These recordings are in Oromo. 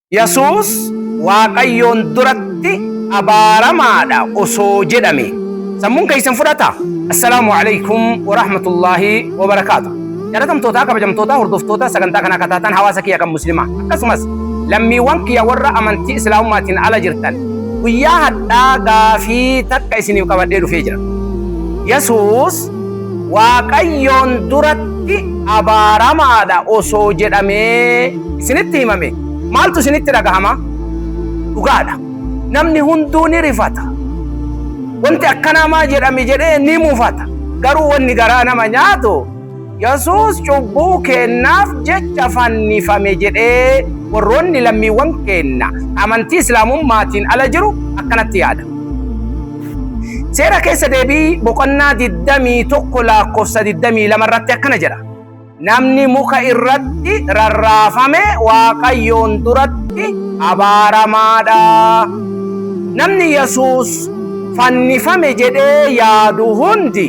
Yesuus Waaqayyoon duratti abaaramaadha osoo jedhame sammuun keessan fudhata. Assalaamu alaikum wa rahmatullaahi wa barakaatu. Jaalatamtootaa kabajamtootaa hordoftoota sagantaa kanaa kataatan hawaasa kiyya kan muslimaa akkasumas lammiiwwan kiyya warra amantii islaamummaatiin ala jirtan guyyaa hadhaa gaafii takka isiniif qabadhee dhufee jira. Yesuus Waaqayyoon duratti abaaramaadha osoo jedhamee isinitti himame maaltu isinitti dhagahama? Dhugaadha. Namni hunduu ni rifata. Wanti akkanaa maa jedhame jedhee ni mufata. Garuu wanni garaa nama nyaatu Yesuus cubbuu keennaaf jecha fannifame jedhee warroonni lammiiwwan keenna amantii Islaamummaatiin ala jiru akkanatti yaada. Seera keessa deebii boqonnaa 21 lakkoofsa 22 irratti akkana jedha. Namni muka irratti rarraafame Waaqayyoon duratti abaaramaadha. Namni Yesuus fannifame jedhee yaadu hundi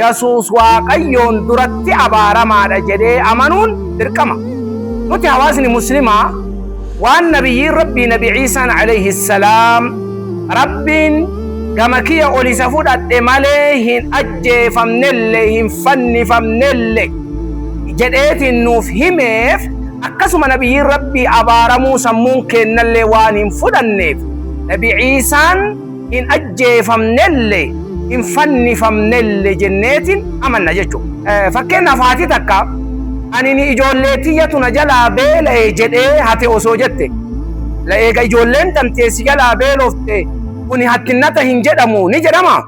Yesuus Waaqayyoon duratti abaaramaadha jedhee amanuun dirqama. Nuti hawaasni muslimaa Waan Nabiyyiin Rabbii Nabi Iisaan Aleyhi Salaam Rabbiin gama kiyya ol isa fudhadhe malee hin ajjeefamnelle hin fannifamnelle jedheetiin nuuf himeef akkasuma Nabiyyiin Rabbii abaaramuu sammuun keennallee waan hin fudhanneef Nabi Iisaan hin ajjeefamnelle, hin fannifamnelle jenneetiin amanna jechuudha. Fakkeenyaaf haati takka anini ijoollee tiyyatu na jalaa beela'e jedhee hate osoo jette, la eega ijoolleen tantee si jalaa beelofte kuni hattinnata hin jedhamu ni jedhamaa?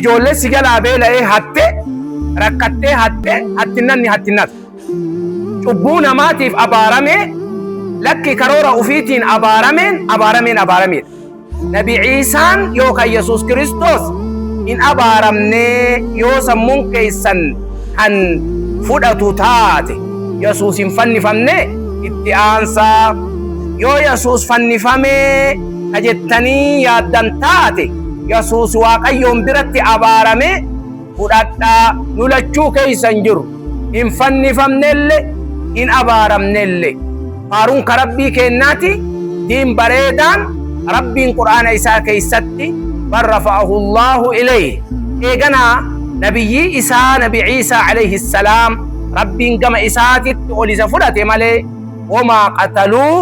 Ijoollee si jalaa beela'ee hatte, rakkattee hatte hattinnanni hattinnata. Cubbuu namaatiif abaaramee, lakki karoora ufiitiin abaarameen abaarameen abaarameedha. Nabi Ciisaan yookaan Yesuus Kiristoos hin abaaramne yoo sammuun keessan kan fudhatu taate. Yesuus hin fannifamne itti aansaa. Yoo Yesuus fannifamee ka jettanii yaaddan taate Yesuus Waaqayyoon biratti abaarame. fudhadhaa nu lachuu keeysan jiru hin fannifamnelle hin abaaramnelle faaruun ka rabbii keennaati diin bareedaan rabbiin qur'aana isaa keeysatti bal rafa'ahu llaahu ilayhi eeganaa nabiyyii isaa nabi ciisaa alayhi salaam rabbiin gama isaatitti ol isa fudhate malee womaa qataluuh